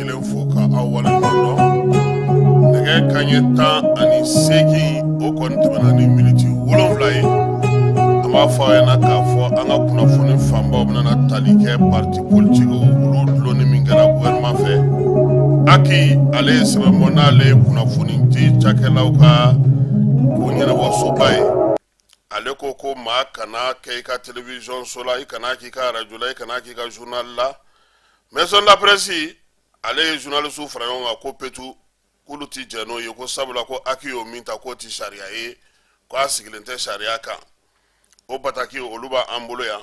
kelen fo ka aw wale dɔn nɛgɛ kanɲɛ tan ani seegin o kɔni tɛmɛna ni miniti wolonwula ye an b'a fɔ a ɲɛna k'a fɔ an ka kunnafoni fanbaw bɛna tali kɛ parti politikiw olu dulonni min kɛra gouvernement fɛ aki ale ye sɛbɛn bɔ n'ale ye kunnafonidi cakɛlaw ka ko ɲɛnabɔsoba ye ale ko ko maa kana kɛ i ka television so la i kana k'i ka radio la i kana k'i ka journal la maison de la presse ale ye journalistew faraɲɔgɔnkan ko petu k'olu ti jɛn n'o ye ko sabula ko aki y'o min ta k'o ti sariya ye ko a sigilen tɛ sariya kan o bataki olu b'an bolo yan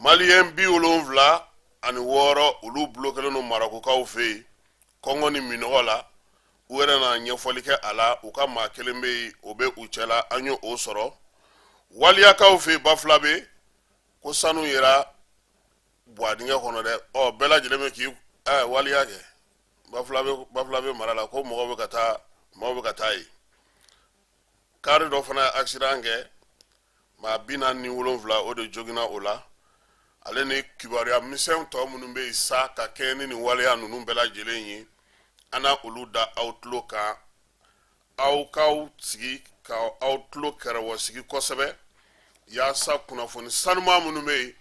maliyɛn bi wolonfila ani wɔɔrɔ olu bulokelen don marakokaw fɛ yen kɔngɔ ni minɔgɔ la u yɛrɛ na ɲɛfɔli kɛ a la u ka maa kelen bɛ yen o bɛ u cɛla an y'o sɔrɔ waliyakaw fɛ yen bafulabe ko sanu yera buwa dingɛ kɔnɔ dɛ ɔ bɛɛ lajɛlen bɛ k'i ɛ waliya kɛ bafulabe mara la ko mɔgɔw bɛ ka taa mɔgɔw bɛ ka taa yen kaari dɔ fana ye accident kɛ maa bi naani ni wolonfila o de joginna o la ale ni kibaruya misɛnw tɔ minnu bɛ yen sa ka kɛɲɛ ni nin waleya ninnu bɛɛ lajɛlen ye an na olu da aw tulo kan aw k'aw sigi ka aw tulo kɛrɛwɔsigi kosɛbɛ yaasa kunnafoni sanuman minnu bɛ yen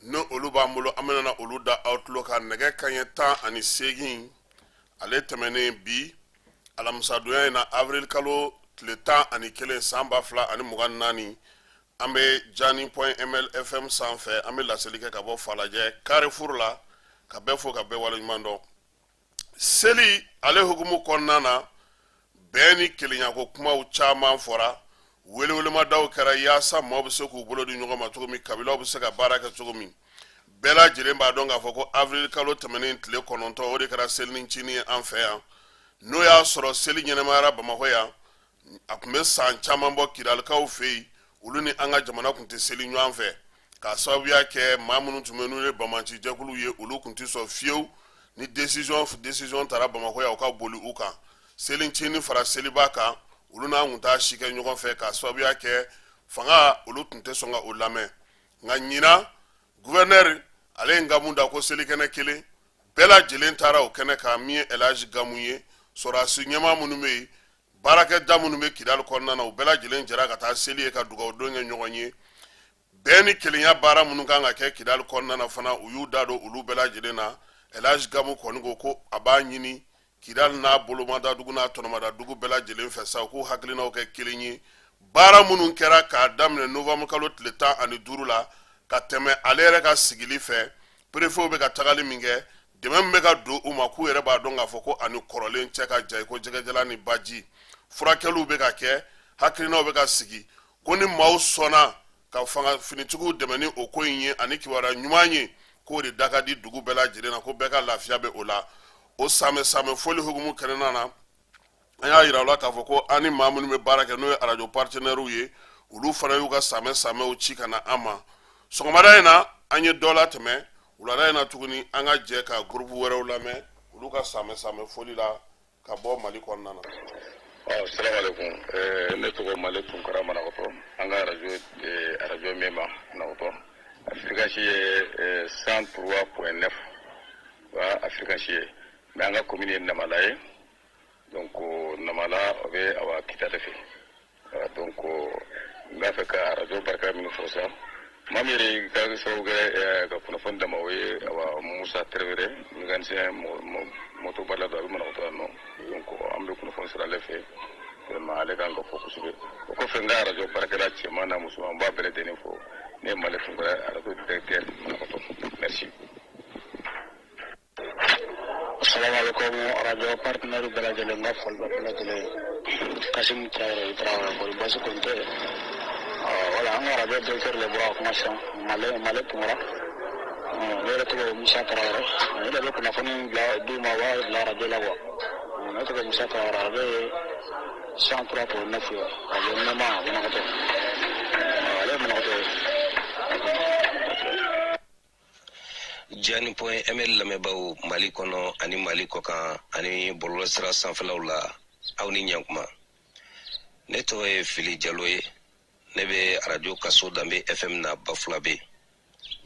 n'olu b'an bolo an bɛna olu da aw tulo kan nɛgɛ kanɲɛ tan ani seegin ale tɛmɛnen bi alamisadonya in na avril kalo tile tan ani kelen san ba fila ani mugan naani an bɛ jani point ml fm sanfɛ an bɛ laseli kɛ ka bɔ falajɛ carrefour la ka bɛɛ fo ka bɛɛ waleɲuman dɔn seli ale hukumu kɔnɔna na bɛn ni kelenya ko kumaw caman fɔra welewelemadaw kɛra yaasa maaw bɛ se k'u bolo di ɲɔgɔn ma cogo min kabilaw bɛ se ka baara kɛ cogo min bɛɛ lajɛlen b'a dɔn k'a fɔ ko avril kalo tɛmɛnen tile kɔnɔntɔn o de kɛra selinincini ye an fɛ yan n'o y'a sɔrɔ seli ɲɛnamayara bamakɔ yan a tun bɛ san caman bɔ kidalikaw fɛ yen olu ni an ka jamana tun tɛ seli ɲɔgɔn fɛ k'a sababuya kɛ maa minnu tun bɛ n'u ye banbaanci jɛkulu ye olu tun tɛ sɔn fiyewu ni desizɔn taara bamakɔ yan o ka boli u kan selicinin fara seliba kan olu n'an tun t'a si kɛ ɲɔgɔn fɛ k'a sababuya kɛ fanga olu tun tɛ sɔn ka o lamɛn nka ɲinan guvɛnɛri ale ye gamu da ko selikɛnɛ kelen bɛɛ lajɛlen taara o kɛnɛ kan min ye elhaji gamu ye sɔrɔdasi ɲɛmaa minnu bɛ yen baarakɛda minnu bɛ kidali kɔnɔna na u bɛɛ lajɛlen jɛra ka taa seli ye ka dugawudon kɛ ɲɔgɔn ye bɛn ni kelenya baara minnu kan ka kɛ kidali kɔnɔna na fana u y'u da don olu bɛɛ lajɛlen na elhaji gamu kɔni ko ko a b'a ɲini kidali n'a bolomada dugu n'a tɔnɔmada dugu bɛɛ lajɛlen fɛ sa u k'u hakilinaw kɛ kelen ye baara minnu kɛra k'a daminɛ novembre kalo tile tan ani duuru la ka tɛmɛ ale yɛrɛ ka sigili fɛ perefew bɛ ka tagali min kɛ dɛmɛ min bɛ ka don u ma k'u yɛrɛ b'a dɔn k'a fɔ ko a ni kɔrɔlen cɛ ka jan ko jɛgɛjalan ni baji furakɛliw bɛ ka kɛ hakilinaw bɛ ka sigi ko ni maaw sɔnna ka fanga finitigiw dɛmɛ ni o ko in ye ani kibaruya ɲuman ye k'o de da ka di dugu bɛɛ lajɛlen na ko bɛɛ ka lafiya bɛ o la o samɛ samɛ foli hukumu kɛnɛna na an y'a yira u la k'a fɔ ko an ni maa minnu bɛ baara kɛ n'o ye arajo partenaires ye olu fana y'u ka samɛ samɛw ci ka na an ma sɔgɔmada in na an ye dɔ latɛmɛ wulada in na tuguni an ka jɛ ka groupe wɛrɛw lamɛn olu ka samɛ samɛ foli la ka bɔ mali kɔnɔna na ɔ salamalekun eh, ne tɔgɔ male tunkara manakɔtɔ an ka arajo eh, arajo mema manakɔtɔ a fréquence ye eh, cent trois point neuf wa a fréquence ye mais an ka komini ye namala ye donc namala o bɛ awa kita de fɛ voilà donc n b'a fɛ ka arajo barika minnu fo sa maa min yɛrɛ ka sababu kɛ eh, ka kunnafoni d'an ma o ye awa musa tarawele mécanicien motobarila don a bɛ manakɔtɔ yan nɔ donc an bɛ kunnafoni sɔrɔ ale fɛ vraiment ale kan ka fo kosɛbɛ o kɔfɛ n ka arajo baarakɛla cɛman n'a musoman n b'a bɛɛ lajɛlen fo ne ye male tunkara arajo directeur manakɔtɔ merci Salamalekum radio partenaires bɛɛ lajɛlen n ka foli bɛ bɛɛ lajɛlen ye, Kasimu Tarawele Tarawele kɔni baasi kɔni tɛ yen, ɔ voilà an ka radio directeur de bɔra ka kuma sisan Male Male Tunkara, ɔ ne yɛrɛ tɔgɔ ye Musa Tarawele, ne de bɛ kunnafoni in bila d'u ma u b'a bila radio la quoi, ɔ ne tɔgɔ ye Musa Tarawele radio ye 103.9 ye radio ɲɛma Manakɔtɔ, ɔ ale ye Manakɔtɔ ye. jani point ml lamɛnbaaw mali kɔnɔ ani mali kɔkan ani bɔlɔlɔ sira sanfɛlaw la aw ni ɲakuma ne tɔgɔ ye fili jalo ye ne bɛ arajo kaso danbe fm na bafulabɛ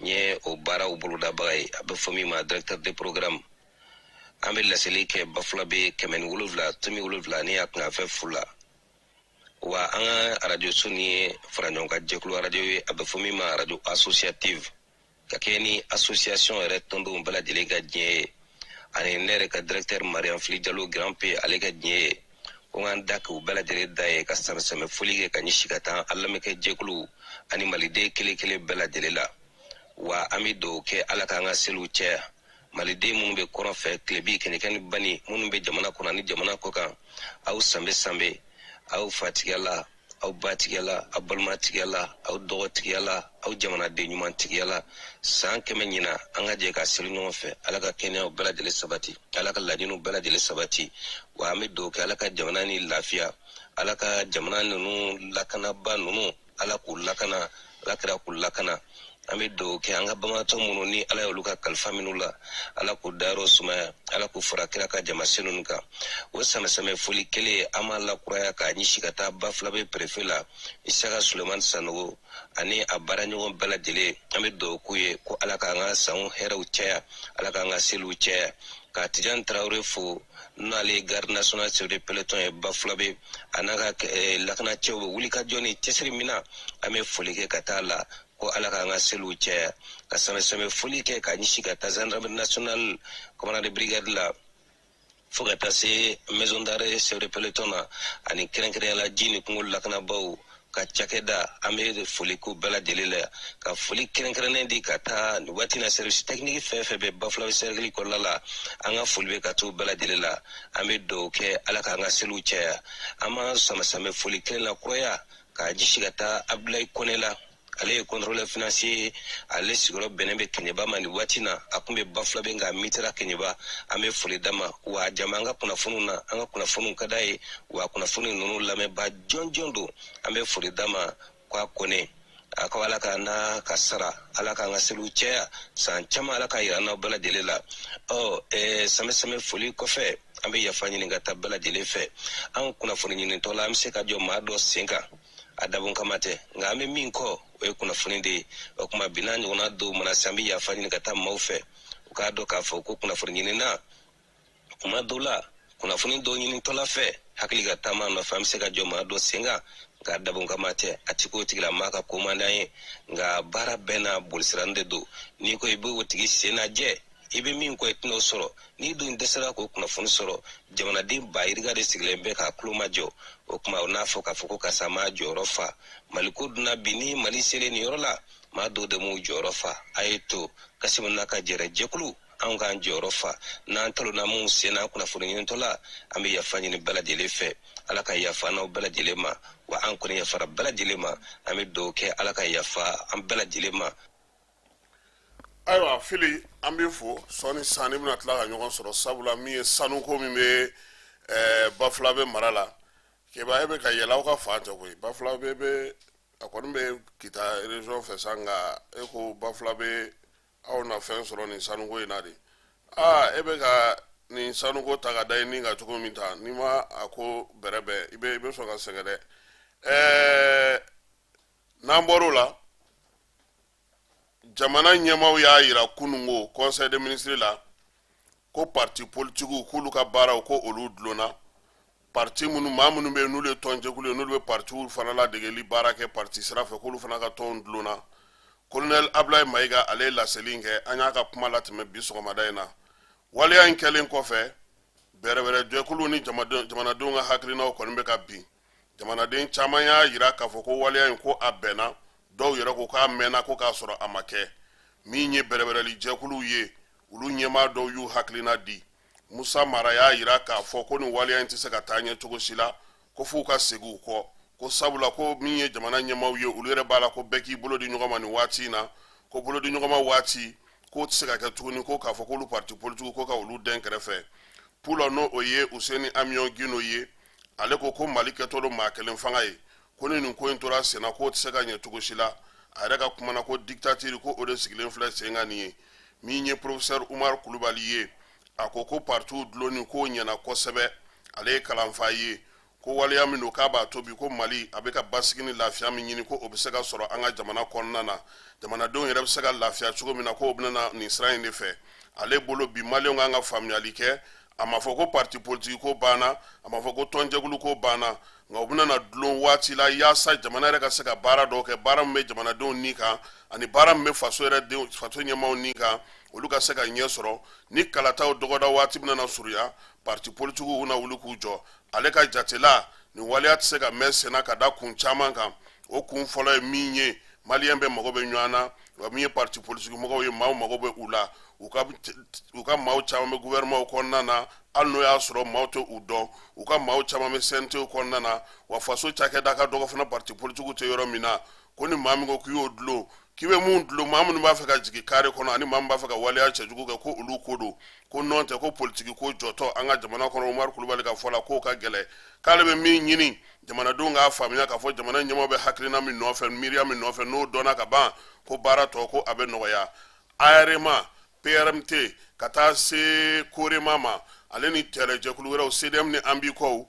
n ye o baaraw bolodabaga ye a bɛ fɔ min ma directeur de programme an bɛ laseli kɛ bafulabɛ kɛmɛ ni wolonwula tomi wolonwula ni a kunkanfɛn fu la wa an ka arajoso in ye faraɲɔgɔnkan jɛkulu arajo ye a bɛ fɔ min ma arajo associative ka kɛ ni association yɛrɛ tɔndenw bɛɛ lajɛlen ka diɲɛ ye ani ne yɛrɛ ka directeur mariam fili jalo grand p ale ka diɲɛ ye ko n ka n da k'u bɛɛ lajɛlen da ye ka samɛsamɛ foli kɛ ka ɲɛsi ka taa an lamɛnkɛ jɛkulu ani maliden kelen kelen bɛɛ lajɛlen la wa an bɛ dugawu kɛ ala k'an ka seliw caya maliden minnu bɛ kɔrɔn fɛ tilebin kɛɲɛka ni bani minnu bɛ jamana kɔnɔ ani jamana kɔkan aw sanbɛ sanbɛ aw fatigiya la aw batigiya la aw balimatigiya la aw dɔgɔtigiya la aw jamanaden ɲuman tigiya la san kɛmɛ ɲinan an ka jɛ ka seli ɲɔgɔn fɛ ala ka kɛnɛyaw bɛɛ lajɛlen sabati ala ka laɲiniw bɛɛ lajɛlen sabati wa an bɛ dugawu kɛ ala ka jamana nin lafiya ala ka jamana ninnu lakanabaa ninnu ala k'u lakana ala kira k'u lakana an bɛ dugawu kɛ an ka banbaatɔ minnu ni ala y'olu ka kalifa minɛ u la ala k'u dayɔrɔ sumaya ala k'u fara kira ka jamasen ninnu kan o sanbɛsanbɛ foli kelen an b'a lakuraya k'a ɲisi ka taa bafulabe perefe la isaka sulemani sanogo ani a baaraɲɔgɔn bɛɛ lajɛlen an bɛ dugawu k'u ye ko ala k'an ka sanw hɛrɛw caya ala k'an ka seliw caya ka tijan tarawele fo n'ale ye garde national chef de peloton ye bafulabe a n'a ka eh, lakanacɛw bɛ wuli ka jɔ ni cɛsiri min na an bɛ foli kɛ ka taa la ko ala k'an ka seliw cɛya ka sanbɛsanbɛ foli kɛ ka ɲisi ka taa gendarmerie nationale commandant de brigade la fo ka taa se maison d'arrêt chef de peloton na ani kɛrɛnkɛrɛnya la ji ni kungo lakanabaaw ka cakɛda an bɛ foli k'u bɛɛ lajɛlen la ka foli kɛrɛnkɛrɛnnen di ka taa nin waati na service technique fɛn fɛn bɛ bafulabe cercle kɔnɔna la an ka foli bɛ ka t'u bɛɛ lajɛlen la an bɛ dugawu kɛ ala k'an ka seliw caya an bɛ sanbɛsanbɛ foli kelen lakuraya k'a ɲisi ka taa abdulayi kone la ale ye contrôleur financier ye ale sigiyɔrɔ bɛnnen bɛ kɛɲɛba ma nin waati na a tun bɛ bafulabe nka mutera kɛɲɛba an bɛ foli d'a ma wa jama an ka kunnafoniw na an ka kunnafoniw ka d'a ye wa kunnafoni ninnu lamɛnba jɔnjɔn don an bɛ foli d'a ma ko a kone a ko ala ka na ka sara ala k'an ka seliw cɛya san caman ala k'a yira n'aw bɛɛ lajɛlen la ɔ eh, sanbɛsanbɛ foli kɔfɛ an bɛ yafa ɲini ka taa bɛɛ lajɛlen fɛ an kunnafoni ɲinitɔ la an bɛ se ka jɔ maa dɔ sen kan a dabon kama tɛ nka an bɛ min kɔ o ye kunnafoni de ye o tuma bi n'a ɲɔgɔnna dɔw mana se an bɛ yafa ɲini ka taa maaw fɛ u k'a dɔn k'a fɔ ko kunnafoni ɲinina tuma dɔw la kunnafoni dɔ ɲinitɔ la fɛ hakili ka taama nɔfɛ an bɛ se ka jɔ maa dɔ sen kan nka dabon kama tɛ a tɛ k'o tigilamaa ka ko man d'an ye nka baara bɛɛ n'a bolisira de don n'i ko i bɛ o tigi sen lajɛ i bɛ min kɔ i tɛn'o sɔrɔ n'i dun dɛsɛra k'o kunnafoni sɔrɔ jamanaden ba yirika de sigilen bɛ k'a tulo majɔ o tuma o n'a fɔ k'a fɔ ko karisa m'a jɔyɔrɔ fa maliko dun na bi ni mali selen nin yɔrɔ la maa dɔw de m'u jɔyɔrɔ fa a ye to kasimu n'a ka jɛrɛ jɛkulu anw k'an jɔyɔrɔ fa n'an talonna minnu sen n'an kunnafoni ɲinitɔ la an bɛ yafa ɲini bɛɛ lajɛlen fɛ ala ka yafa n'aw bɛɛ lajɛlen ma wa an kɔni yafara bɛɛ lajɛlen ma an bɛ dugawu kɛ ala ka yafa an bɛɛ lajɛlen ma ayiwa fili an bɛ fo sɔɔni sanni bɛna tila ka ɲɔgɔn sɔrɔ sabula min ye sanuko min bɛ eh, bafulabe mara la keba e bɛ ka yɛlɛ aw ka fan tɛ koyi bafulabe bɛ a kɔni bɛ kita région fɛ sa nka e ko bafulabe aw na fɛn sɔrɔ nin sanuko in na de aa e bɛ ka nin sanuko ta ka da i ni kan cogo min ta n'i ma a ko bɛrɛbɛn i bɛ i bɛ sɔn ka sɛgɛn dɛ ɛɛ n'an bɔr'o la jamana ɲɛmaaw y'a yira kunun ko conseil des ministres la ko pati politigiw k'olu ka baaraw ko olu dulonna pati minnu maa minnu bɛ yen n'olu ye tɔnjɛkulu ye n'olu bɛ patiw fana ladegeli baara kɛ pati sira fɛ k'olu fana ka tɔn dulonna kolonɛli abulayi mayiga ale ye laseli in kɛ an y'a ka kuma latɛmɛ bi sɔgɔmada in na waleya in kɛlen kɔfɛ bɛrɛbɛrɛjɛkulu ni jamanadenw ka hakilinaw kɔni bɛ ka bin jamanaden caman y'a jira k'a fɔ ko waleya in ko a bɛnna dɔw yɛrɛ ko k'a mɛnna ko k'a sɔrɔ a ma kɛ min ye bɛrɛbɛrɛli jɛkuluw ye olu ɲɛmaa dɔw y'u hakilina di musa mara y'a jira k'a fɔ ko nin waleya in tɛ se ka taa ɲɛ cogo si la ko f'u ka segin u kɔ ko sabula ko min ye jamana ɲɛmaaw ye olu yɛrɛ b'a la ko bɛɛ k'i bolo di ɲɔgɔn ma nin waati in na ko bolo di ɲɔgɔn ma waati k'o tɛ se ka kɛ tuguni ko k'a fɔ k'olu parti politigiw ko ka olu dɛn kɛrɛfɛ pulo n'o o ye useni amiyon gino ye ale ko ko mali kɛtɔ don maa kelen fanga ye ko ni nin ko in tora senna k'o tɛ se ka ɲɛ cogo si la a yɛrɛ ka kuma na ko diktatiri ko o de sigilen filɛ sen kan nin ye min ye porofesɛri umar kulubali ye a ko ko partiw dulonni k'o ɲɛna kosɛbɛ ale ye kalanfa ye ko waleya min don k'a b'a to bi ko mali a bɛ ka basigi ni lafiya min ɲini ko o bɛ se ka sɔrɔ an ka jamana kɔnɔna na jamanadenw yɛrɛ bɛ se ka lafiya cogo min na ko o bɛna na nin sira in de fɛ ale bolo bi maliyɛnw kan ka faamuyali kɛ a ma fɔ ko parti politique ko banna a ma fɔ ko tɔnjɛkulu ko banna nka o bɛna na dulon waati la yaasa jamana yɛrɛ ka se ka baara dɔw kɛ baara min bɛ jamanadenw ni kan ani baara min bɛ faso ɲɛmaaw ni kan olu ka se ka ɲɛ sɔrɔ ni kalataw dɔgɔda waati bɛna na surunya parti politikiw na wuli k'u jɔ ale ka jate la nin waleya tɛ se ka mɛn senna ka da kun caman kan o kun fɔlɔ ye min ye maliyɛn bɛɛ mago bɛ ɲɔgɔn na wa min ye parti politique mɔgɔw ye maaw mago bɛ u la u ka maaw caman bɛ gouvernement kɔnɔna na hali n'o y'a sɔrɔ maaw tɛ u dɔn u ka maaw caman bɛ CNT kɔnɔna na wa faso cakɛda ka dɔgɔ fana parti politique tɛ yɔrɔ min na ko ni maa min ko k'i y'o dulon k'i bɛ mun dulon maa minnu b'a fɛ ka jigin kare kɔnɔ ani maa min b'a fɛ ka waleya cɛjugu kɛ ko olu ko don ko nɔntɛ ko politiki ko jɔtɔ an ka jamana kɔnɔ Umaru Kulubali ka fɔ la k'o ka gɛlɛn k'ale bɛ min ɲini jamanadenw k'a faamuya k'a fɔ jamana ɲɛmaaw bɛ hakilina min nɔfɛ miiriya min nɔfɛ n'o dɔnna ka ban ko baara tɔ ko a bɛ nɔgɔya arma prmt ka taa se korema ma ale ni terijɛkulu wɛrɛw cdm ni an bikow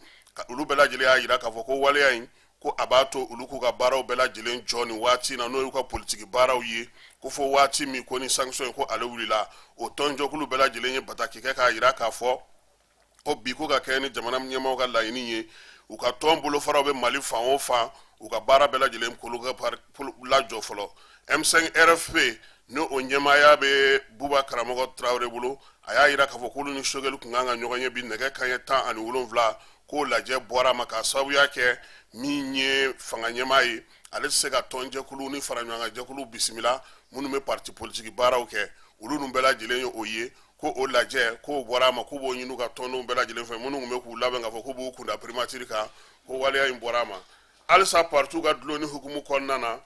olu bɛɛ lajɛlen y'a jira k'a fɔ ko waleya in ko a b'a to olu k'u ka baaraw bɛɛ lajɛlen jɔ nin waati na n'o y'u ka politiki baaraw ye ko fo waati min ko ni sanction ko ale wulila o tɔnjɛkulu bɛɛ lajɛlen ye bataki kɛ k'a jira k'a fɔ ko bi ko ka kɛɲɛ ni jamana ɲɛmaaw ka laɲini ye u ka tɔn bolofaraw bɛ mali fan o fan u ka baara bɛɛ lajɛlen k'olu lajɔ fɔlɔ m5 rfp ni o ɲɛmaaya bɛ buba karamɔgɔ tarawele bolo a y'a jira k'a fɔ k'olu ni sogɛli kun kan ka ɲɔgɔn ye bi nɛgɛ kanɲɛ tan ani wolonwula k'o lajɛ bɔra a ma k'a sababuya kɛ min ye fanga ɲɛmaa ye ale tɛ se ka tɔnjɛkulu ni faraɲɔgɔnkanjɛkulu bisimila minnu bɛ parti politiki baaraw kɛ olu ninnu bɛɛ lajɛlen ye o ye ko o lajɛ k'o bɔra a ma k'u b'o ɲini ka tɔndenw bɛɛ lajɛlen fɛ minnu tun bɛ k'u labɛn k'a fɔ k'u b'u kunda primatiri kan ko waleya in bɔra a ma halisa paritiw ka dulonni hukumu kɔnɔna na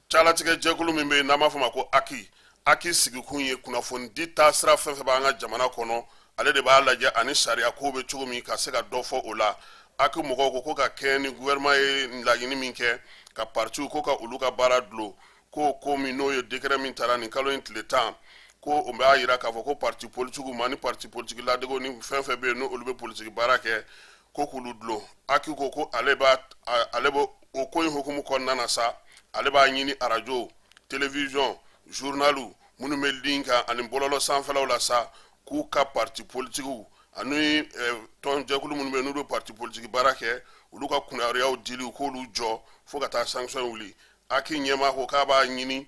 calatigɛ jɛkulu min bɛ yen n'an b'a fɔ ma ko aki aki sigikun ye kunnafonidi taa sira fɛn fɛn b'an ka jamana kɔnɔ ale de b'a lajɛ ani sariya ko bɛ cogo min ka se ka dɔ fɔ o la aki mɔgɔw ko ko ka kɛɲɛ ni gouvernement ye laɲini min kɛ ka paritiw ko ka olu ka baara dulon ko ko min n'o ye décret min tara nin kalo in tile tan ko o b'a jira k'a fɔ ko parti politigiw ma ni parti politigi ladego ni fɛn fɛn bɛ yen n'olu bɛ politigi baara kɛ ko k'olu dulon aki ko ko ale b'a ale bɛ o ko in hukumu kɔnɔna na sa ale b'a ɲini arajo télévision journaliw minnu bɛ ligne kan ani bɔlɔlɔ sanfɛlaw la sa k'u ka parti politigiw ani eh, tɔn jɛkulu minnu bɛ n'u bɛ parti politigi baara kɛ olu ka kibaruyaw dili u k'olu jɔ fo ka taa sanction wuli aki ɲɛmaa ko k'a b'a ɲini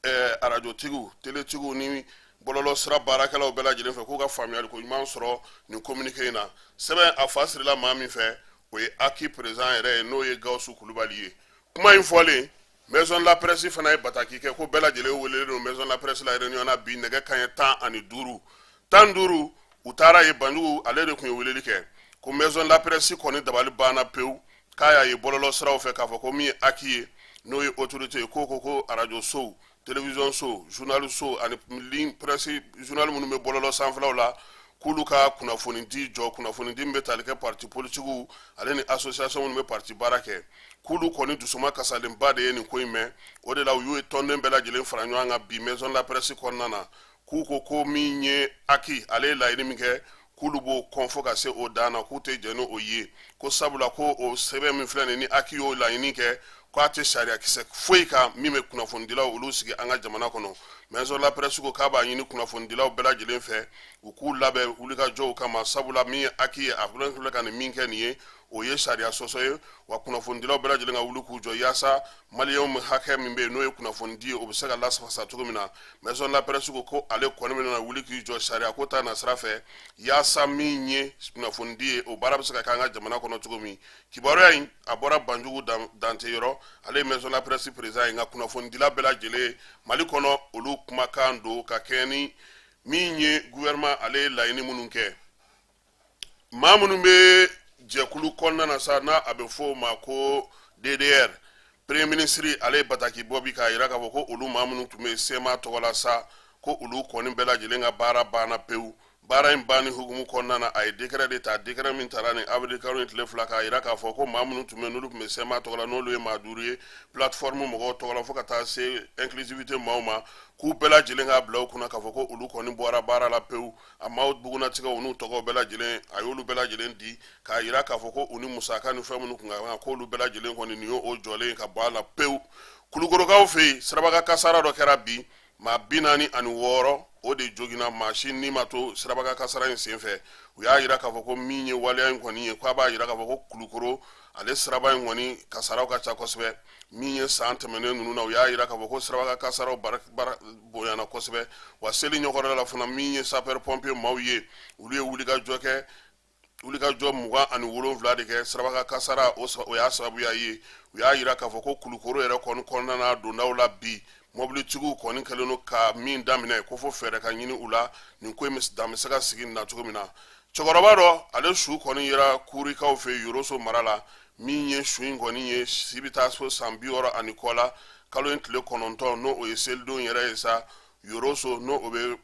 eh, arajotigiw teletigiw ni bɔlɔlɔ sira baarakɛlaw bɛɛ lajɛlen fɛ k'u ka faamuyali ko ɲuman sɔrɔ nin kominike in na sɛbɛn a fa sirila maa min fɛ o ye aki président yɛrɛ ye n'o ye gawusu kulubali ye kuma in fɔlen maison de la presse fana ye bataki kɛ ko bɛɛ lajɛlen welelen don maison de la presse la réunion na bi nɛgɛ kaɲɛ tan ani duuru tan duuru u taara yen banjugu ale de tun ye weleli kɛ ko maison la presse kɔni dabali banna pewu k'a y'a ye bɔlɔlɔ siraw fɛ k'a fɔ ko min ye aki ye n'o ye autorité ye k'o ko ko arajo sow télévision sow journal sow ani ligne presse journal minnu bɛ bɔlɔlɔ sanfɛlaw la k'olu ka kunnafoni di jɔ kunnafoni di min bɛ tali kɛ parti politigiw ale ni association minnu bɛ parti baara kɛ k'olu kɔni dusuma kasalenba de ye nin ko in mɛn o de la u y'u ye tɔnden bɛɛ lajɛlen fara ɲɔgɔn kan bi maison la presse kɔnɔna na k'u ko ko min ye aki ale ye laɲini min kɛ k'olu b'o kɔn fo ka se o dan na k'u tɛ jɛn ni o ye ko sabula ko o sɛbɛn min filɛ nin ni aki y'o laɲini kɛ k'a tɛ sariyakisɛ foyi kan min bɛ kunnafonidilaw olu sigi an ka jamana kɔnɔ maison la presse ko k'a b'a ɲini kunnafonidilaw bɛɛ lajɛlen fɛ u k'u labɛn wulikajɔw kama sabula min ye aki ye a filɛ ka nin min kɛ nin ye o ye sariya sɔsɔ ye wa kunnafonidilaw bɛɛ lajɛlen ka wuli k'u jɔ yaasa maliyɛnw hakɛ min bɛ yen n'o ye kunnafonidi ye o bɛ se ka lasafasa cogo min na maison de la presse ko ko ale kɔni bɛna wuli k'i jɔ sariya ko ta nasira fɛ yaasa min ye kunnafonidi ye o baara bɛ se ka kɛ an ka jamana kɔnɔ cogo min kibaruya in a bɔra banjugu dante yɔrɔ ale ye maison de la presse président ye nka kunnafonidila bɛɛ lajɛlen mali kɔnɔ olu kumakan don ka kɛɲɛ ni min ye gouvernement ale ye laɲini minnu kɛ maa minnu bɛ jɛkulu kɔnɔna na sa n'a a bɛ fɔ o ma ko ddr premier ministre ale ye bataki bɔ bi k'a jira k'a fɔ ko olu maa minnu tun bɛ sema tɔgɔ la sa ko olu kɔni bɛɛ lajɛlen ka baara banna pewu baara in banni hukumu kɔnɔna na a ye décret de ta décret min tara nin avril kalo in tile fila k'a jira k'a fɔ ko maa minnu tun bɛ n'olu tun bɛ sema tɔgɔ la n'olu ye maa duuru ye plateforme mɔgɔw tɔgɔ la fo ka taa se inclusivité maaw ma k'u bɛɛ lajɛlen k'a bila u kunna k'a fɔ ko olu kɔni bɔra baara la pewu a maaw bugunnatigɛw n'u tɔgɔw bɛɛ lajɛlen a y'olu bɛɛ lajɛlen di k'a jira k'a fɔ ko u ni musaka ni fɛn minnu tun ka kan k'olu bɛɛ lajɛlen kɔni nin y'o jɔlen ye ka bɔ a la pewu kulukorokaw fɛ yen sirabakan kasara dɔ kɛra bi maa bi naani ani wɔɔrɔ o de joginna maa si ni ma to sirabakan kasara in senfɛ u y'a jira k'a fɔ ko min ye waleya in kɔni ye k'a b'a jira k'a fɔ ko kulukoro ale siraba in kɔni kasaraw ka ca kosɛbɛ min ye san tɛmɛnen ninnu na u y'a jira k'a fɔ ko sirabakan kasaraw bonyana kosɛbɛ wa seli ɲɔgɔnda la fana min ye sapeur pompier maaw ye olu ye wulikajɔ kɛ wulikajɔ mugan ani wolonwula de kɛ sirabakan kasara o y'a sababuya ye u y'a jira k'a fɔ ko kulukoro yɛrɛ kɔni kɔnɔna na dondaw la bi mobilitigiw kɔni kɛlen don ka min daminɛ ko fo fɛɛrɛ ka ɲini u la nin ko in dan bɛ se ka sigi nin na cogo min na cɛkɔrɔba dɔ ale su kɔni yera kurikaw fɛ yoroso mara la min ye su in kɔni ye si bɛ taa so san bi wɔɔrɔ ani kɔ la kalo in tile kɔnɔntɔn n'o o ye selidon yɛrɛ ye sa yoroso n'o o bɛ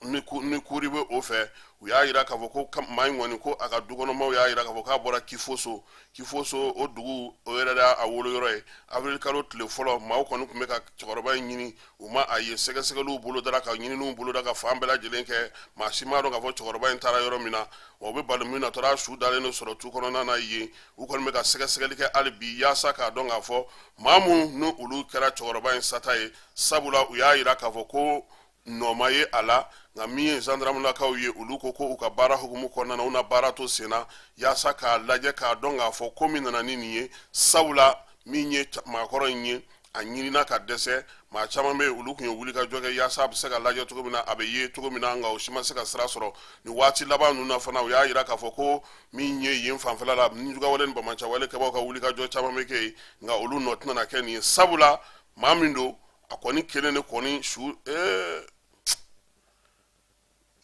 ni kuri bɛ o fɛ u y'a jira k'a fɔ ko maa in kɔni ko a ka dukɔnɔmaw y'a jira k'a fɔ k'a bɔra kifoso kifoso o dugu o yɛrɛ de y'a woloyɔrɔ ye avril kalo tile fɔlɔ maaw kɔni tun bɛ ka cɛkɔrɔba in ɲini u ma a ye sɛgɛsɛgɛliw bolodara ka ɲininiw boloda ka fan bɛɛ lajɛlen kɛ maa si m'a dɔn k'a fɔ cɛkɔrɔba in taara yɔrɔ min na wa u bɛ bala min na taara su dalen de sɔrɔ tu kɔnɔna na yen u kɔni bɛ ka sɛgɛsɛgɛli kɛ hali bi yaasa k'a dɔn k'a fɔ maa minnu n'olu kɛra cɛkɔrɔba in sata ye sabula u y'a jira k'a fɔ ko nɔ ma ye a la nka min ye zandaramulakaw ye olu ko u ka baara hukumu kɔnɔna na u na baara to sen na yaasa k'a lajɛ k'a dɔn k'a fɔ ko min nana ni nin ye sabula min ye maakɔrɔ in ye a ɲinina ka dɛsɛ maa caman bɛ olu tun ye wulikajɔ kɛ yaasa a bɛ se ka lajɛ cogo min na a bɛ ye cogo min na nka o si ma se ka sira sɔrɔ nin waati laban ninnu na fana u y'a jira k'a fɔ ko min ye yen fanfɛla la nijuguwale ni banbaanciwale kɛbaaw ka wulikajɔ caman bɛ kɛ yen nka olu nɔ tɛna kɛ nin ye sabula maa min don a kɔni kelen de kɔni su ee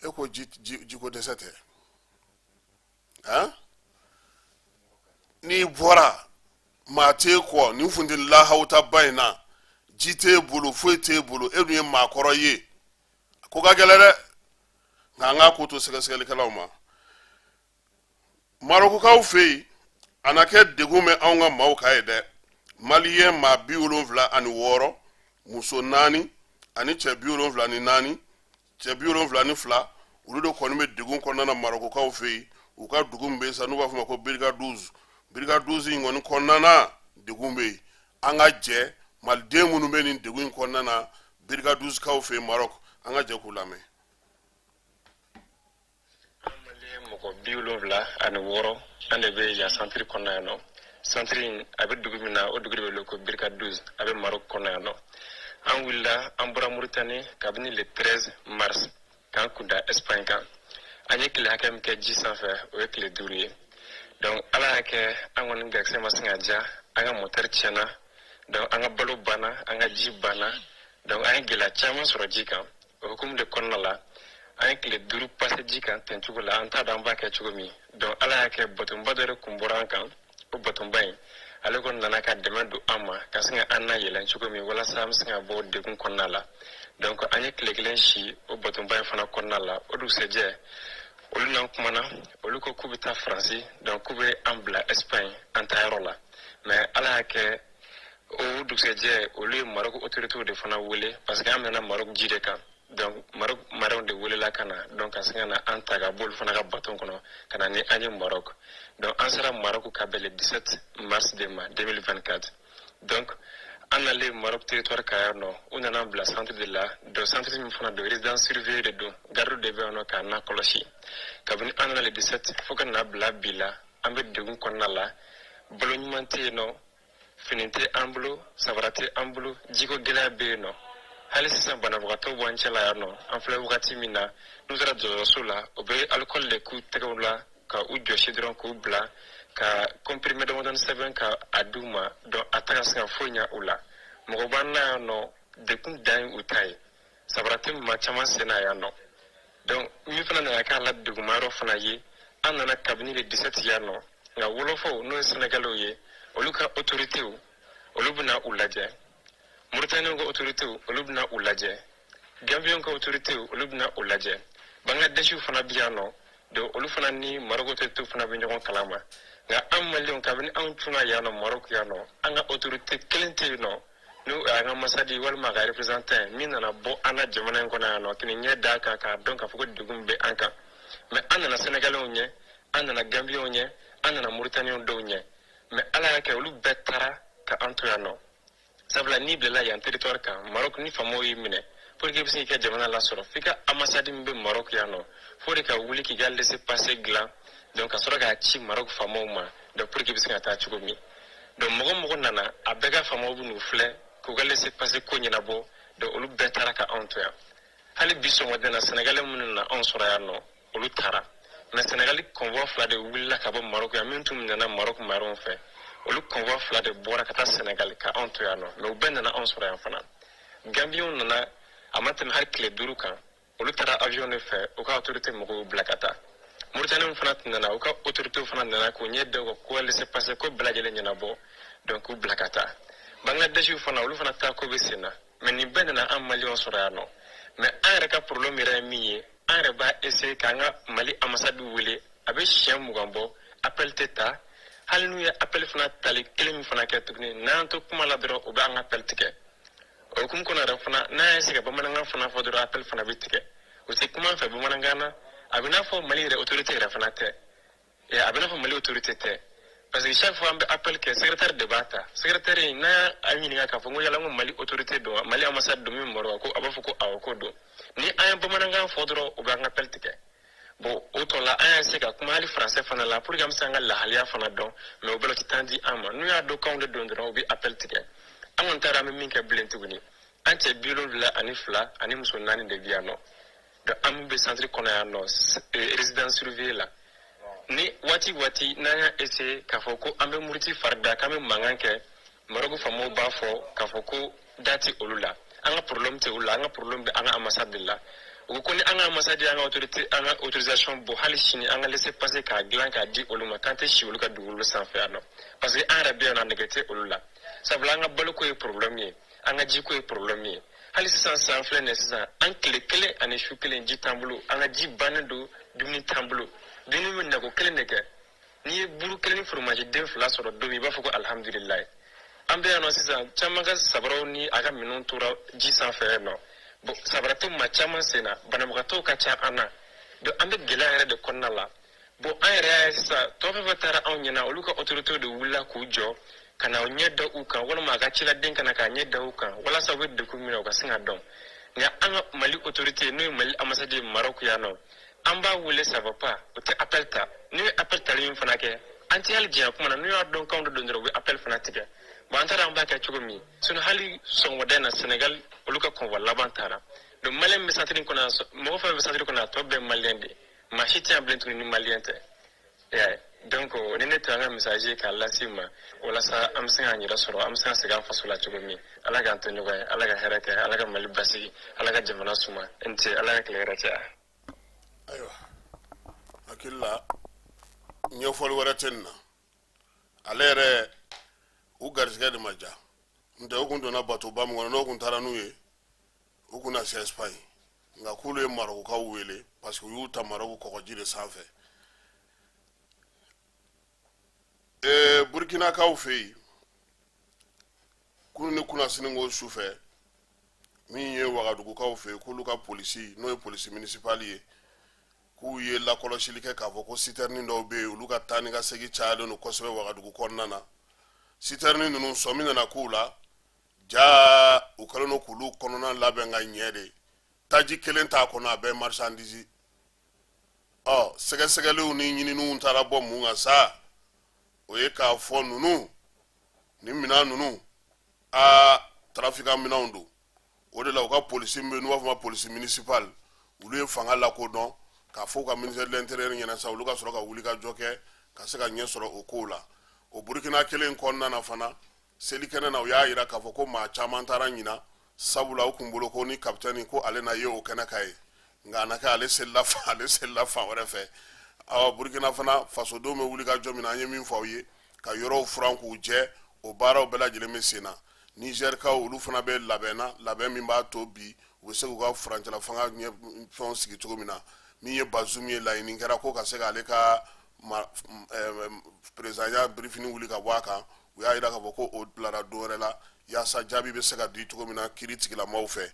e ko ji ji jiko dɛsɛ tɛ n'i bɔra maa t'e kɔ nin funteni lahawutaba in na ji t'e bolo foyi t'e bolo e dun ye maakɔrɔ ye ko ka gɛlɛn dɛ nka an k'a ko to sɛgɛsɛgɛlikɛlaw ma marokokaw fɛ yen a na kɛ degun bɛ anw ka maaw kan yen dɛ maliyɛn maa bi wolonwula ani wɔɔrɔ muso naani ani cɛ bi wolonwula ni naani cɛ bi wolonwula ni fila olu de kɔni bɛ degun kɔnɔna na marokokaw fɛ yen u ka dugu min bɛ yen sa n'u b'a fɔ o ma ko bir gandouz bir gandouz in kɔni kɔnɔna na degun bɛ yen an ka jɛ maliden minnu bɛ nin degun in kɔnɔna na bir gandouzkaw fɛ yen marɔku an ka jɛ k'u lamɛn mɔgɔ bi wolonwula ani wɔɔrɔ an de bɛ yan santiri kɔnɔ yan nɔ santiri in a bɛ dugu min na o dugu de bɛ wele ko bir gandouz a bɛ marok kɔnɔ yan nɔ an wulila an bɔra muritani kabini le 13 mars k'an kunda espagne kan an ye tile hakɛ min kɛ ji sanfɛ o ye tile duuru ye donc ala y'a kɛ an kɔni garisɛgɛ ma sin ka diya an ka motɛri tiɲɛna donc an ka balo banna an ka ji banna donc an ye gɛlɛya caman sɔrɔ ji kan O hukumu de kɔnɔna la an ye tile duuru pase ji kan ten cogo la an t'a dɔn an b'a kɛ cogo min donc ala y'a kɛ batonba dɔ de kun bɔra an kan o batonba in ale kɔni nana ka dɛmɛ don an ma ka sin ka an nayɛlɛn cogo min walasa an bɛ sin ka bɔ degun kɔnɔna la donc an ye tile kelen si o batonba in fana kɔnɔna la o dugusɛjɛ olu n'an kumana olu ko k'u bɛ taa faransi donc k'u bɛ an bila espagne an taayɔrɔ la mais ala y'a kɛ o dugusɛjɛ olu ye marok otoritew de fana wele parce que an bɛnna marok ji de kan donc marok maraw de welela ka na donc ka sin ka na an ta ka bɔ olu fana ka baton kɔnɔ ka na ni an ye marok donc an sera marok ka bɛn le 17 mars de ma 2024 donc an nalen marok territoire kan yan nɔ u nan'an bila centre de la donc centre min fana don résidence surveillée de don garde de bɛ yan nɔ k'an nakɔlɔsi kabini an nana le 17 fo ka na bila bi la an bɛ degun kɔnɔna la balo ɲuman tɛ yen nɔ fini tɛ an bolo sabara tɛ an bolo jiko gɛlɛya bɛ yen nɔ hali sisan banabagatɔw b'an cɛla yan nɔ an filɛ wagati min na n'u sera dɔgɔtɔrɔso la u bɛ alikɔli de k'u tɛgɛw la ka u jɔsi dɔrɔn k'u bila ka kɔnpirime damadɔni sɛbɛn ka a d'u ma donc a tɛ ka se ka foyi ɲa u la mɔgɔ b'an na yan nɔ dekun dan ye u ta ye sabara tɛ maa caman sen na yan nɔ donc min fana nana k'a la degunmayɔrɔ fana ye an nana kabini le disɛti yan nɔ nka wolofaw n'o ye sɛnɛgalɛw ye olu ka otoritew olu bɛ na u lajɛ muritaniyɛnw ka otoritew olu bɛ na u lajɛ ganbiyɛnw ka otoritew olu bɛ na u lajɛ bangladɛsiw fana bɛ yan nɔ donc olu fana ni maroko otoritew fana bɛ ɲɔgɔn kalama nka an maliyɛnw kabini anw cunna yan nɔ maroko yan nɔ an ka otorite kelen tɛ yen nɔ n'o y'an ka ambassade walima a ka représentant min nana bɔ an ka jamana in kɔnɔ yan nɔ k'i ɲɛ da an kan k'a dɔn k'a fɔ ko degun bɛ an kan mais an nana sénégalais ɲɛ an nana gambiens ɲɛ an nana mauritaniens dɔw ɲɛ mais ala y'a kɛ olu bɛɛ taara ka an to yan nɔ sabula n'i bilala yan territoire kan maroc ni faamaw y'i minɛ pour que i bɛ se k'i ka jamana lasɔrɔ f'i ka ambassade min bɛ maroc yan nɔ f'o de ka wuli k'i ka laissez-passer dilan donc ka sɔrɔ k'a ci maroc faamaw ma donc pour que i bɛ se ka taa cogo min donc mɔgɔ mɔgɔ nana a bɛɛ ka faamaw bɛ n'u filɛ k'u ka laissez-passer ko ɲɛnabɔ donc olu bɛɛ taara ka anw to yan hali bi sɔgɔmada in na sɛnɛgali minnu nana anw sɔrɔ yan nɔ olu taara mais sɛnɛgali convoi fila de wulila ka bɔ marɔku yan minnu tun minɛna marɔku marenw fɛ olu convoi fila de bɔra ka taa sɛnɛgali ka anw to yan nɔ mais u bɛɛ nana anw sɔrɔ yan fana gambiyanw nana a ma tɛmɛ hali tile duuru kan olu taara avion de fɛ u ka autorité mɔgɔw bila ka taa moritanenw fana nana u ka autorité fana nana k'u ɲɛ da u ka ko laissez-passer ko bɛɛ lajɛlen ɲɛnabɔ donc k'u bila ka taa bangladeshiw fana olu fana taa ko bɛ sen na mais nin bɛɛ nana an maliyɛnw sɔrɔ yan nɔ mais an yɛrɛ ka problème yɛrɛ ye min ye an yɛrɛ b'a essayer k'an ka mali ambassade wele a bɛ siɲɛ mugan bɔ appel tɛ ta hali n'u ye appel fana tali kelen min fana kɛ tuguni n'an to kuma la dɔrɔn u b'an ka appel tigɛ o hukumu kɔnɔ yɛrɛ fana n'an y'a se ka bamanankan fana fɔ dɔrɔn appel fana bɛ tigɛ u tɛ kuma an fɛ bamanankan na a bɛ n'a fɔ mali yɛrɛ autorité yɛrɛ fana tɛ a bɛ n'a fɔ mali autorité tɛ parce que chaque fois an bɛ appel kɛ secrétaire de b'a ta secrétaire in n'an y'a ɲininka k'a fɔ n ko yala n ko mali autorité don wa mali ambassade don min bɛ Maroc wa ko a b'a fɔ ko awɔ ko don ni an ye bamanankan fɔ dɔrɔn u b'an ka appel tigɛ bon o tɔ la an y'a se ka kuma hali français fana la pour que an bɛ se an ka lahaliya fana dɔn mais o bɛɛ la u tɛ temps di an ma n'u y'a dɔn k'anw de don dɔrɔn u bɛ appel tigɛ an kɔni t'a dɔn an bɛ min kɛ bilen tuguni an cɛ bi wolonwula ani fila ani muso naani de bɛ yan nɔ donc an min bɛ centre kɔnɔ yan nɔ euh, résidence surveillée la ni waati waati n'an y'a essayer k'a fɔ ko an bɛ muruti fari da k'an bɛ mankan kɛ Maroc faamaw b'a fɔ k'a fɔ ko da tɛ olu la, an ka problème tɛ olu la, an ka problème bɛ an ka ambassade de la, u ko ko ni an ka ambassade y'an ka autorité an ka autorisation bɔ hali sini an ka laissez-passer k'a dilan k'a di olu ma k'an tɛ si olu ka dugukolo sanfɛ yan nɔ parce que an yɛrɛ bɛ yan nɔ nege tɛ olu la sabula an ka baloko ye problème ye an ka jiko ye problème ye hali sisan sa an filɛ nin sisan an tile kelen ani su kelen ji t'an bolo an ka ji bannen don dumuni t'an bolo dumuni bɛ na ko kelen de kɛ n'i ye buru kelen ni foromaji den fila sɔrɔ don min i b'a fɔ ko alihamudulilayi an bɛ yan nɔ sisan caman ka sabaraw ni a ka minɛnw tora ji sanfɛ yen nɔ bon sabara tɛ maa caman sen na banabagatɔw ka ca an na donc an bɛ gɛlɛya yɛrɛ de kɔnɔna la bon an yɛrɛ y'a ye sisan tɔ fɛn fɛn taara anw ɲɛna olu ka autoritéw de wulila k'u jɔ ka na u ɲɛ da u kan walima a ka ciladen ka na k'a ɲɛ da u kan walasa u bɛ degun min na u ka se k'a dɔn nka an ka mali autorité n'o ye mali ambassade ye marɔku yan nɔ an b'a wele ça va pas u tɛ appel ta n'u ye appel tali min fana kɛ an tɛ hali diɲɛ kuma na n'u y'a dɔn k'anw de don dɔrɔn u bɛ appel fana tigɛ bon an t'a dɔn an b'a kɛ cogo min sinon hali sɔgɔmada in na sɛnɛgal olu ka convoi laban taara donc maliyɛn bɛ centre kɔnɔ mɔgɔ fɛn bɛ centre kɔnɔ a tɔ bɛɛ ye maliyɛn de maa si tɛ yan bilen tuguni ni maliyɛn tɛ donc nin de tun an ka message k'a lase aw ma walasa an bɛ se k'an yɛrɛ sɔrɔ an bɛ se ka segin an faso la cogo min ala k'an to ɲɔgɔn ye ala ka hɛrɛ kɛ ala ka mali basigi ala ka jamana suma n tɛ ala ka tile hɛrɛ caya ayiwa hakili la ɲɛfɔli wɛrɛ tɛ nin na ale yɛrɛ u garisɛgɛ de ma ja ntɛ u kun donna batoba min kɔnɔ n'o kun taara n'u ye u kun na se espagne nka k'olu ye marokokaw wele parce que u y'u ta maroko kɔgɔji de sanfɛ ee burkinakaw fɛ yen kunu ni kunnasini ko su fɛ min ye wagadugukaw fɛ yen k'olu ka polisi n'o ye polisi minisipali ye k'u ye lakɔlɔsili kɛ k'a fɔ ko sitɛrinin dɔw bɛ yen olu ka taa ni ka segin cayalen don kosɛbɛ wagadugu kɔnɔna na sitɛrinin ninnu sɔmi nana k'u la jaa u kɛlen don k'olu kɔnɔna labɛn ka ɲɛ de taji kelen t'a kɔnɔ a bɛɛ marisandisi ɔ sɛgɛsɛgɛliw ni ɲininiw taara bɔ mun kan sa o ye k'a fɔ ninnu nin minɛn ninnu aa tarafika minɛnw don o de la u ka polisi bɛ n'u b'a fɔ ma polisi municipal olu ye fanga lakodɔn k'a fɔ u ka ministère de l'intérieur ɲɛ na sa olu ka sɔrɔ ka wuli ka jɔ kɛ ka se ka ɲɛ sɔrɔ o kow la o burukina kelen kɔnɔna na fana selikɛnɛ na u y'a jira k'a fɔ ko maa caman taara ɲina sabula u kun bolo ko ni kapitɛni ko ale na ye o kɛnɛ kan yen nka a na kɛ ale selila fan wɛrɛ fɛ awa burkina fana fasodenw bɛ wulikajɔ min na an ye min fɔ aw ye ka yɔrɔw furan k'u jɛ o baaraw bɛɛ lajɛlen bɛ sen na nizɛrikaw olu fana bɛ labɛn na labɛn min b'a to bi u bɛ se k'u ka furancɛla fanga ɲɛ fɛnw sigi cogo min na min ye bazum ye laɲini kɛra ko ka se k'ale ka perezidanya birifini wuli ka bɔ a kan u y'a jira k'a fɔ ko o bilara don wɛrɛ la yaasa jaabi bɛ se ka di cogo min na kiiri tigilamaaw fɛ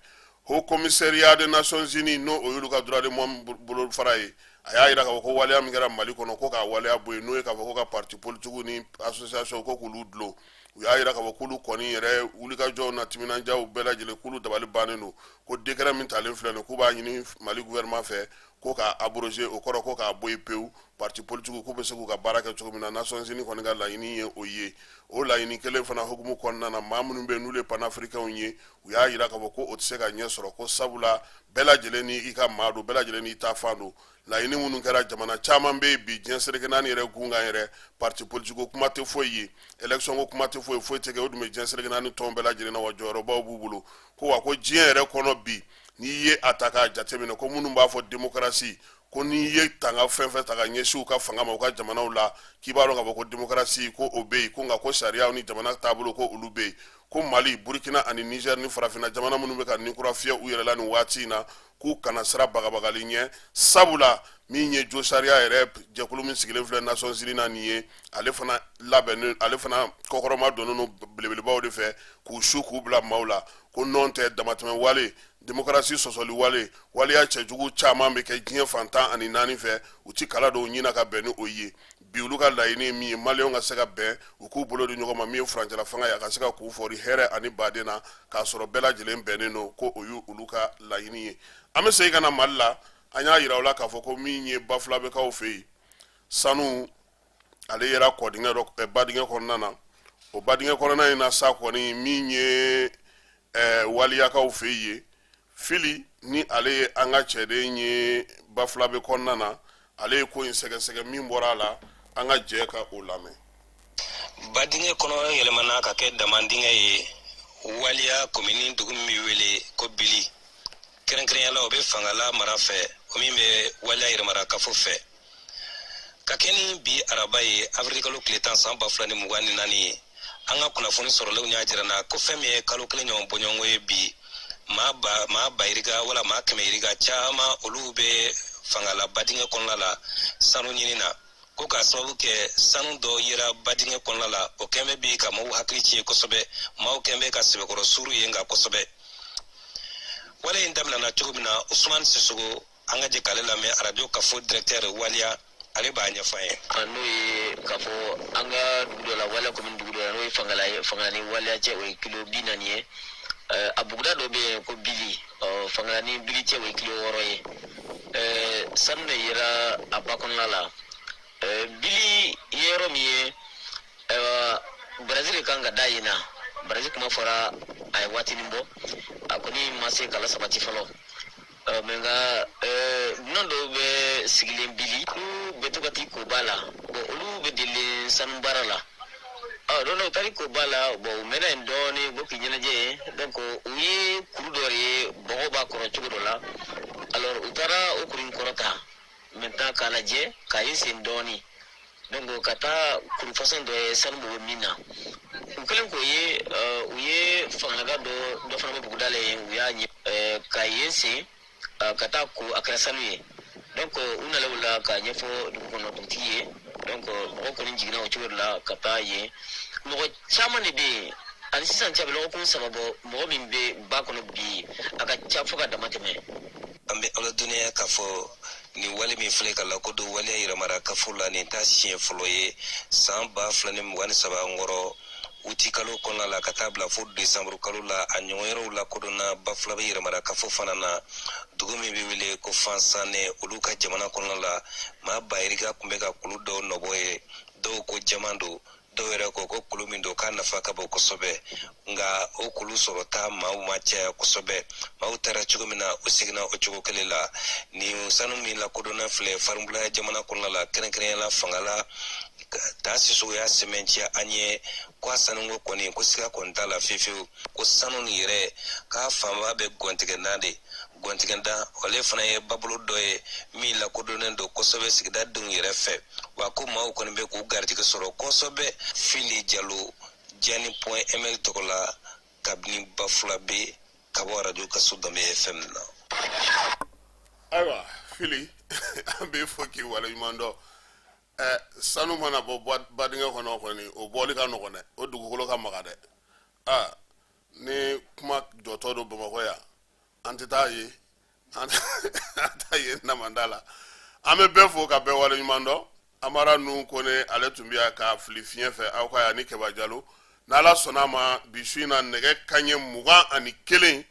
haut commissariat des nations unies n'o y'olu ka droit de l'homme bolofara ye a y'a jira k'a fɔ ko waleya min kɛra mali kɔnɔ ko k'a waleya bɔ yen n'o ye k'a fɔ ko ka parti politikiw ni association ko k'olu dulon u y'a jira k'a fɔ k'olu kɔni yɛrɛ wulikajɔw n'a timinandiyaw bɛɛ lajɛlen k'olu dabali bannen don ko décret min talen filɛ nin k'u b'a ɲini mali gouvernement fɛ ko k'a abroger o kɔrɔ ko k'a bɔ yen pewu parti politikiw k'u bɛ se k'u ka baara kɛ cogo min na Nations Unies kɔni ka laɲini ye o ye o laɲini kelen fana hukumu kɔnɔna na maa minnu bɛ yen n'olu ye panafricains ye u y'a jira k'a fɔ ko o tɛ se ka ɲɛ sɔrɔ ko sabula bɛɛ lajɛlen n'i ka maa don bɛɛ lajɛlen n'i ta fan don laɲini minnu kɛra jamana caman bɛ yen bi diɲɛ seleke naani yɛrɛ gun kan yɛrɛ parti politiki ko kuma tɛ foyi ye election ko kuma tɛ foyi foyi tɛ kɛ o dun bɛ diɲɛ seleke naani tɔn bɛɛ lajɛlen na wa jɔyɔrɔbaw b'u bolo ko wa ko diɲɛ yɛrɛ kɔnɔ bi n'i ye a ta k'a jateminɛ ko minnu b'a fɔ demokarasi ko n'i ye tanga fɛn fɛn ta ka ɲɛsin u ka fanga ma u ka jamanaw la k'i b'a dɔn k'a fɔ ko demokarasi ko o bɛ yen ko nka ko sariyaw ni jamana taabolo ko olu bɛ yen ko mali burkina ani niger ni farafina jamana minnu bɛ ka ninkura fiyɛ u yɛrɛ la nin waati in na k'u kana siran bagabagali ɲɛ sabula min ye josariya yɛrɛ jɛkulu min sigilen filɛ nations unies na nin ye ale fana labɛnnen ale fana kɔkɔrɔmadonnen don belebelebaw de fɛ k'u su k'u bila maaw la ko nɔn tɛ damatɛmɛ wale demokarasi sɔsɔli wale waleya cɛjugu caman bɛ kɛ diɲɛ fan tan ani naani fɛ u ti kala dɔw ɲina ka bɛn ni o ye bi olu ka laɲini ye min ye maliyɛnw ka se ka bɛn u k'u bolo di ɲɔgɔn ma min ye furancɛla fanga ye a ka se ka k'u fɔri hɛrɛ ani baden na k'a sɔrɔ bɛɛ lajɛlen bɛnnen don ko o y'olu ka laɲini ye an bɛ segin ka na mali la an y'a yira u la k'a fɔ ko min ye bafulabekaw fɛ yen sanu ale yera kɔdingɛ dɔ eh, badingɛ kɔnɔna na o badingɛ kɔnɔna in na sa kɔni min ye eh, waliyakaw fɛ yen fili ni ale ye an ka cɛden ye bafulabe kɔnɔna na ale ye ko in sɛgɛsɛgɛ min bɔra a la an ka jɛ ka o lamɛn badingɛ kɔnɔ yɛlɛmana ka kɛ damandingɛ ye waliya komini dugu min bɛ wele ko bili kɛrɛnkɛrɛnya la o bɛ fangala mara fɛ o min bɛ waliya yɛrɛmara kafo fɛ ka kɛ ni bi araba ye avril kalo tile tan san ba fila ni mugan ni naani ye an ka kunnafoni sɔrɔlenw y'a jira an na ko fɛn min ye kalo kelen ɲɔgɔn bɔɲɔgɔnko ye bi maa ba yirika wala maa kɛmɛ yirika caman olu bɛ fangala badingɛ kɔnɔna la sanu ɲini na ko k'a sababu kɛ sanu dɔ yera badingɛ kɔnɔna la o kɛn bɛ bi ka mɔgɔw hakili tiɲɛ kosɛbɛ maaw kɛn bɛ ka sɛbɛkɔrɔ suuru yen kan kosɛbɛ wale in daminɛna cogo min na usumani sisogo an ka jɛ k'ale lamɛn radio kafo directeur waliya ale b'a ɲɛfɔ an ye a n'o ye k'a fɔ an ka dugu dɔ la waliya commune dugu dɔ la n'o ye fangala ye fangala ni waliya cɛ o ye kilo bi naani ye a buguda dɔ bɛ yen ko bili ɔ fangala ni bili cɛ o ye kilo wɔɔrɔ ye ɛɛ sanu de yera a ba kɔnɔna la ɛɛ bili ye yɔrɔ min ye ɛɛ barazi de kan ka da yen na barazi kuma fɔra a ye waatinin bɔ a kɔni ma se ka lasabati fɔlɔ ɛɛ mɛ nka ɛɛ dunan dɔw bɛ sigilen bili olu bɛ to ka t'i ko ba la bɔn olu bɛ delilen sanu baara la. don dɔ u taar'i ko ba la bɔn u mɛnna yen dɔɔni bɔ k'i ɲɛnajɛ yen donc u ye kuru dɔ de ye bɔgɔ b'a kɔrɔ cogo dɔ la alors u taara o kuru in kɔrɔta maintenant k'a lajɛ ka yen sen dɔɔni donc ka taa kuru façon dɔ ye sanu bɛ min na u kɛlen k'o ye u ye fangalaka dɔ dɔ fana bɛ buguda la yen u y'a ɲɛ ka yen sen ka t'a ko a kɛra sanu ye donc u nana o la k'a ɲɛfɔ dugu kɔnɔ dugutigi ye donc mɔgɔ kɔni jiginna o cogo de la ka taa yen mɔgɔ caman de bɛ yen a ni sisan cɛ a bɛ lɔgɔkun saba bɔ mɔgɔ min bɛ ba kɔnɔ bi a ka ca fo ka damatɛmɛ an bɛ a ladɔnniya k'a fɔ nin wale min filɛ ka lakodɔn waliya yɛrɛmara kafo la nin t'a siɲɛ fɔlɔ ye san ba fila ni mugan ni saba kɔrɔ uti kalo kɔnɔna la ka taa bila fo desanburu kalo la a ɲɔgɔn yɔrɔw lakodɔnna bafulabe yɛrɛmara kafo fana na dugu min bɛ wele ko fansanɛ olu ka jamana kɔnɔna la maa bayirika tun bɛ ka kulu dɔw nɔbɔ yen dɔw ko jaman don dɔw yɛrɛ ko ko kulu min don k'a nafa ka bon kosɛbɛ nka o kulu sɔrɔta maaw ma caya kosɛbɛ maaw taara cogo min na u seginna o cogo kelen la nin sanu min lakodɔnna filɛ farinbulaya jamana kɔnɔna la kɛrɛnkɛrɛnya la fangala taa sisogo y'a sɛmɛnciya an ye ko a sanuko kɔni ko siga kɔni t'a la fiyefiyewu ko sanu nin yɛrɛ k'a fanba bɛ gɔntigɛna de gɔntigɛda ale fana ye babolo dɔ ye min lakodɔnnen don kosɛbɛ sigida denw yɛrɛ fɛ wa ko maaw kɔni bɛ k'u garijɛgɛ sɔrɔ kosɛbɛ fili jalo jani point ml tɔgɔ la kabini bafulabɛ ka bɔ arajo kaso danbe fm na ayiwa fili an b'i fo k'i waleɲuman dɔn ɛ sanu mana bɔ badingɛ kɔnɔ kɔni o bɔli ka nɔgɔn dɛ o dugukolo ka maga dɛ aa ni kuma jɔtɔ don bamakɔ yan an tɛ taa ye an taa ye namada la an bɛ bɛɛ fo ka bɛɛ waleɲuman dɔn amara nu kɔnɛ ale tun bɛ yan k'a fili fiɲɛ fɛ aw ka yan ni kɛba jalo n'ala sɔnna a ma bi su in na nɛgɛ kanɲɛ mugan ani kelen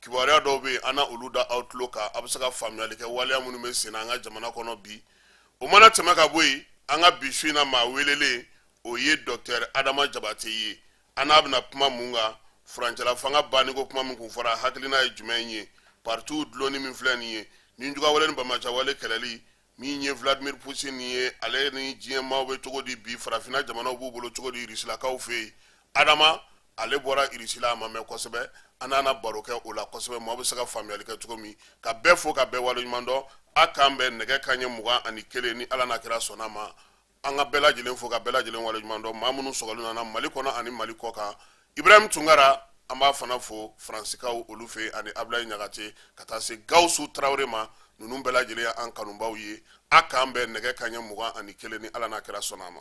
kibaruya dɔw bɛ yen an na olu da aw tulo kan a bɛ se ka faamuyali kɛ waleya minnu bɛ sen na an ka jamana kɔnɔ bi o mana tɛmɛ ka bɔ yen an ka bi su in na maa welelen o ye docteur adama jabate ye an n'a bɛna kuma mun kan furancɛla fanga banni ko kuma min kun fɔra hakilina ye jumɛn ye paritiw dulonni min filɛ nin ye nijuguyawale ni banbaanciyawale kɛlɛli min ye vladimir putin ye ale ni diɲɛ maaw bɛ cogo di bi farafinna jamanaw b'u bolo cogo di irisilakaw fɛ yen adama ale bɔra irisila a ma mɛɛn kosɛbɛ an n'a na baro kɛ o la kosɛbɛ maaw bɛ se ka faamuyali kɛ cogo min ka bɛɛ fo ka bɛɛ waleɲuman dɔn a k'an bɛn nɛgɛ kanɲɛ mugan ani kelen ni ala n'a kira sɔnna a ma an ka bɛɛ lajɛlen fo ka bɛɛ lajɛlen waleɲuman dɔn maa minnu sɔgɔlen an na mali kɔnɔ ani mali kɔ kan ibrahim tunkara an b'a fana fo faransikaw olu fɛ ani abulayi ɲagate ka taa se gawusu tarawele ma ninnu bɛɛ lajɛlen y'an kanubaw ye a k'an bɛn nɛgɛ kanɲɛ mugan ani kelen ni ala n'a kira sɔnna a ma